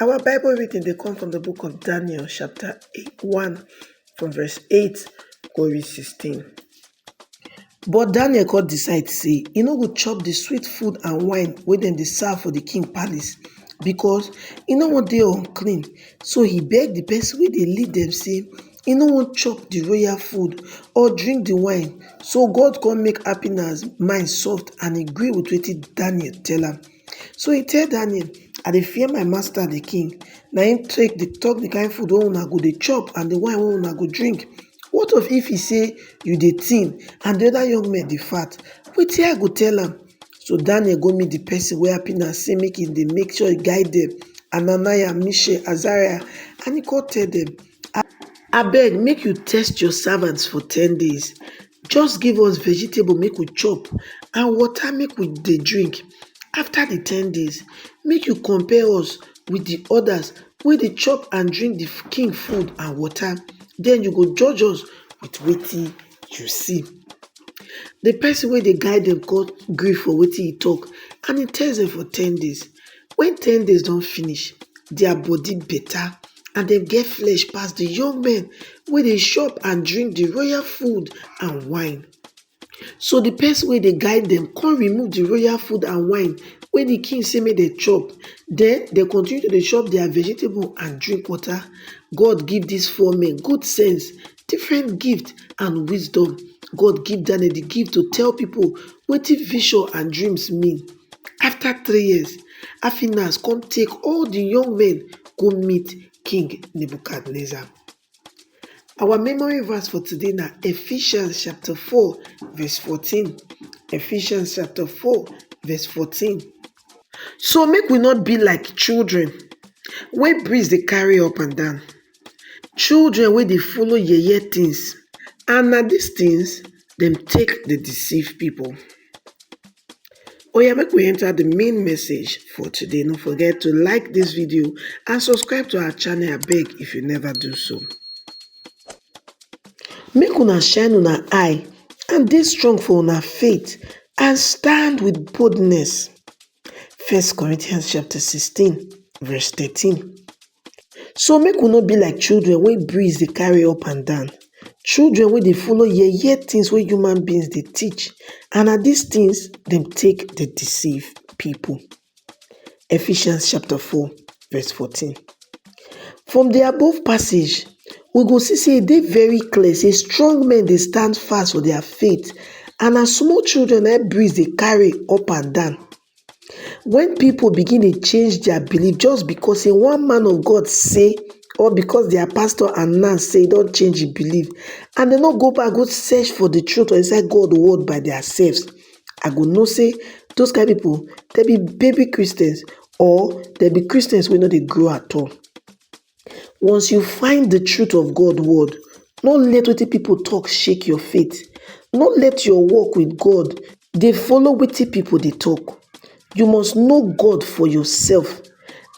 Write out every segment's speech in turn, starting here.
Our Bible reading dey come from the book of Daniel chapter 1 from verse 8 go reach 16. But Daniel come decide say e no go chop the sweet food and wine wey dem dey serve for the king palace because e no wan dey unclean. So he beg the person wey dey lead dem say e no wan chop the royal food or drink the wine. So God come make Happinah's mind soft and e gree with wetin Daniel tell am. So e tell Daniel, I dey fear my master the king, na im take dey talk the kind food wey una go dey chop and the wine wey una go drink. What of if he say you dey thin and the other young men dey fat, wetin I go tell am? So Daniel go meet the person wey Abner say make im dey make sure he guide dem, Hananiah, Mishael, Azariah and he come tell dem, abeg make you test your servants for ten days. just give us vegetable make we chop and water make we dey drink after the ten days make you compare us with the others wey dey chop and drink the king food and water then you go judge us with wetin you see the person wey dey guide them come gree for wetin he talk and he test them for ten days when ten days don finish their body better and dem get flesh pass di young men wey dey chop and drink di royal food and wine. So di pesin wey dey guide dem kon remove di royal food and wine wey di king sey make dem chop, den dem continue to dey chop dia vegetable and drink water. God give dis four men good sense different gift and wisdom God give Daniel the gift to tell people wetin vision and dreams mean. After three years, Afinas come take all the young men go meet King Nebuchadnezzar. Our memory verse for today na Ephesians chapter 4 verse 14. Ephesians chapter 4 verse 14. So make we not be like children wey breeze dey carry up and down. Children wey dey follow yeye tins and na dis tins dem take dey deceive pipu. Oya make we enter di main message for today, no forget to like dis video and subscribe to our channel abeg if you neva do so. Make una shine una eye and dey strong for una faith and stand wit boldness, First Corinthians chapter sixteen verse thirteen. So make we no be like children wey breeze dey carry up and down, children wey dey follow yeye things wey human beings dey teach and na dis things dem take dey deceive people. Ephesians chapter four verse fourteen. From the above passage, we go see sey e dey very clear sey strong men dey stand fast for their faith and na small children na im breeze dey carry up and down When people begin dey change their belief just because say one man of God say or because their pastor announce say e don change him belief and dem no go back go search for the truth for inside God word by their selves, I go know say those kind people dem be baby Christians or dem be Christians wey no dey grow at all. Once you find the truth of God word, no let wetin people talk shake your faith. No let your walk with God dey follow wetin people dey talk. You must know God for yourself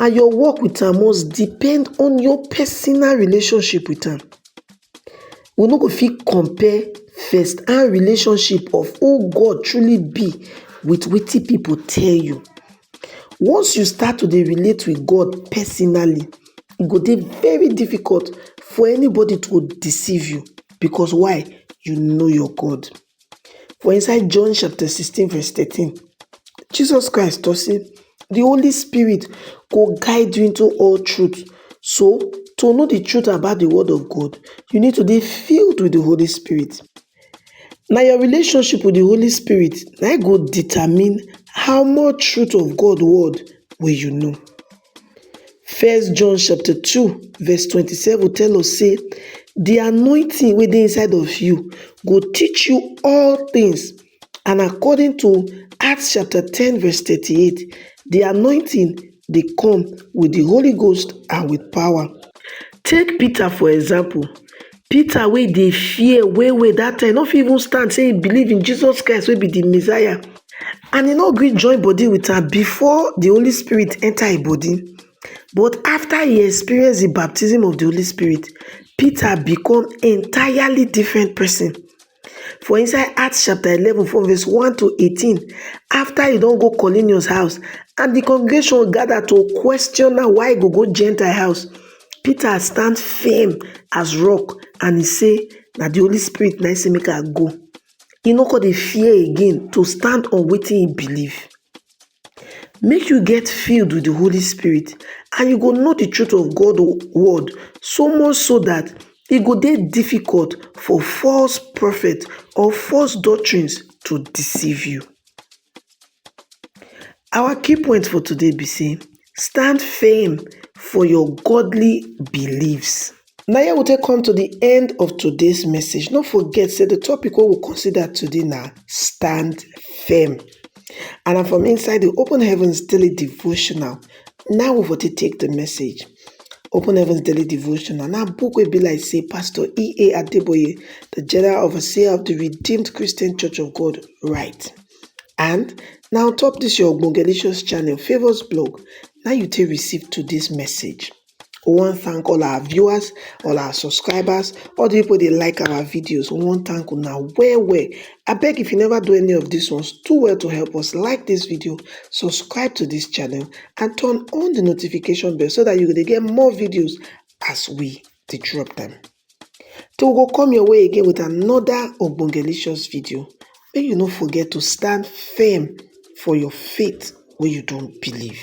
and your walk with am must depend on your personal relationship with am. We no go fit compare first hand relationship of who God truly be with wetin people tell you. Once you start to dey relate with God personally, e go dey very difficult for anybody to deceive you because why? You know your God. For inside John chapter 16 verse 13, Jesus Christ talk say the Holy Spirit go guide you into all truth. So to know the truth about the word of God, you need to dey filled with the Holy Spirit. Na your relationship with the Holy Spirit na im go determine how much truth of God word wey you know. First John chapter two verse twenty seven tell us say the anointing wey dey inside of you go teach you all things and according to Acts chapter ten verse thirty eight the anointing dey come with the Holy Ghost and with power. Take Peter for example, Peter wey dey fear well well that time, no fit even stand say he believe in Jesus Christ wey be the Messiah and he no gree join body with am before the Holy Spirit enter him body. But after he experience the baptism of the Holy Spirit, Peter become entirely different person. for inside Acts chapter 11 from verse 1 to 18, after he don't go Cornelius house, and the congregation gathered to question now why he go go Gentile house, Peter stand firm as rock and he say, that the Holy Spirit na make I go. He no go the fear again to stand on waiting he believe. make you get filled with di holy spirit and you go know di truth of god word so much so dat e go dey difficult for false prophet or false doctrines to deceive you our key point for today be say stand firm for your godly beliefs Na here we take come to the end of today's message. No forget say the topic wey we consider today na stand firm. And na from inside the Open Heavens Daily Devotional na we for take take the message. Open Heavens Daily Devotional na book wey be like say Pastor E.A. Adeboye, the General Overseer of the Redeemed Christian Church of God, write. And na on top this your Ogbongelicious channel, Favours Blog, na you take receive today's message. we wan thank all our viewers, all our subscribers, all the people dey like our videos. We wan thank una well well. I beg if you never do any of these ones, do well to help us like this video, subscribe to this channel and turn on the notification bell so that you go dey get more videos as we dey drop them. Till we go come your way again with another Ogbongelicious video, make you no forget to stand firm for your faith wey you don believe.